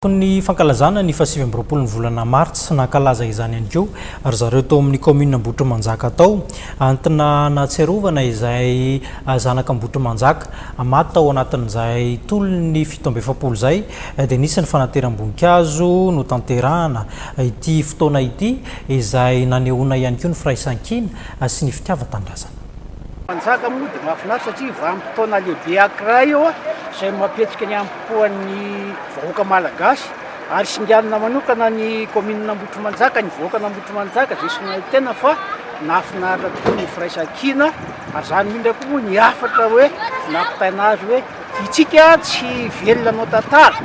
Tao amin'ny fankalazana ny fahasivy amby roapolo ny volana martsa, nankalaza izany ihany koa ry zareo tao amin'ny kaominina Ambohitrimanjaka tao. Entina hanatsiarovana izay zanaka Ambohitrimanjaka maty tao anatin'izay tolon'ny fito amby efapolo izay dia nisy ny fanateram-boninkazo notanterahana ity fotoana ity izay nanehoana ihany koa ny firaisankina sy ny fitiavan-tanindrazana. Manjaka moa dia mahafinaritra satria vanim-potoana lehibe ankiray izay mampihetsika ny poan'ny vahoaka malagasy ary singanina manokana ny kaominina Ambohitrimanjaka, ny vahoakan' Ambohitrimanjaka izay singan'ny tena fa nahafinaritra tokoa ny firaisankina ary izany indrindra koa moa ny hafatra hoe nampitaina azy hoe itsika tsy velona anao tantara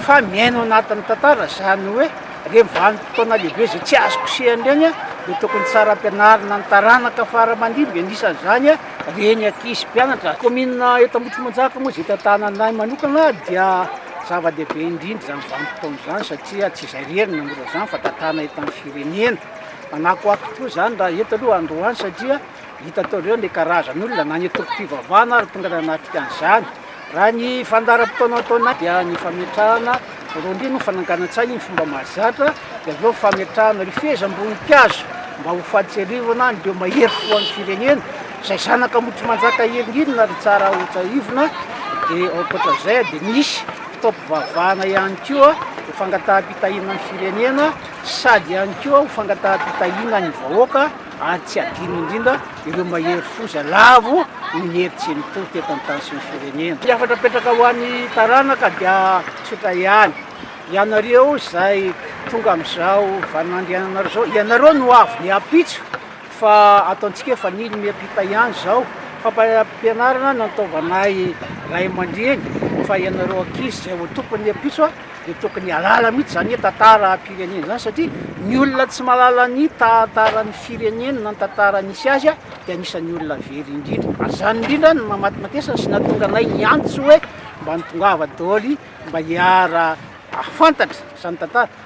fa miaino anatin'ny tantara izany hoe ireny vanim-potoana lehibe izay tsy azo kosehina ireny dia tokony tsara ampianarina ny taranaka faramandimby anisan'izany Reny ankizy mpianatra kaominina eto Ambohitrimanjaka moa izay tantanany ahy manokana dia zava-dehibe indrindra izany vanim-potoana izany satria tsy izay irery no mora izany fa tantana eto amin'ny firenena. Manakoako tokoa izany raha eto aloha androany satria hitanareo ny karazan'olona na ny antokom-pivavahana ary tonga nanatrika an'izany. Raha ny fandaharam-potoana atao anaty dia ny fametrahana rindrina ho fananganan-tsaina ny fomba mahazatra, dia avy eo fametrahana rifezam-boninkazo mba ho fahatsiarivana an'ireo mahery fo an'ny firenena izay zanaka Ambohitrimanjaka helingelina ry Tsara ho tsahivina, dia ankoatra izay dia nisy fitaom-pivavahana ihany koa ho fangataham-pitahiana ny firenena sady ihany koa ho fangataham-pitahiana ny vahoaka. ary tsy adino indrindra ireo mahery foza lavo noho ny hery tsy mitohy teto amin'ny tany sy ny firenena. Ny hafatra apetraka ho an'ny taranaka dia tsotra ihany, ianareo izay tonga amin'izao vaninandriananareo izao, ianareo no avy ny ampitso fa ataontsika hoe efa nino miampita ihany izao, fampaham-pianarana nataovanay ray aman-dreny fa ianareo ankizy izay ho tompon'ny ampitso, Tsy dia tokony hialala mihitsy izany hoe tantaram-pirenena izany satria ny olona tsy mahalala ny tantaran'ny fireneny na ny tantara nisy azy dia anisan'ny olona very indrindra. Ary izany indrindra no namatimatesana sy nahatonga anay niantso hoe mba tongava daholo mba hiara-hahafantatra izany tantara.